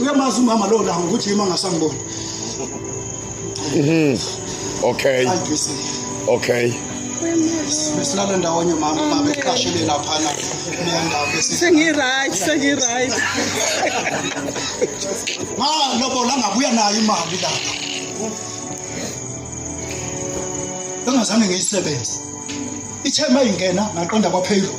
uyamazi umama lo langa ukuthi yima ngasangibona mhm okay okay besilala ndawonye mama baba eqashele laphana neyandawo sengi-right sengi-right ma lobola ngabuya nayo imali lapha engazange ngiyisebenze ithe uma ingena ngaqonda kwaphezulu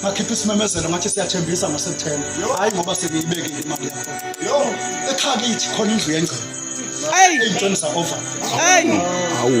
ngakhipha isimemezelo ngathi siyathembisa ngoSeptember hayi ngoba sengiyibekile imali yakho yo ekhaya kithi khona indlu yengcebo eyi iy'ntweni za-over eyi awu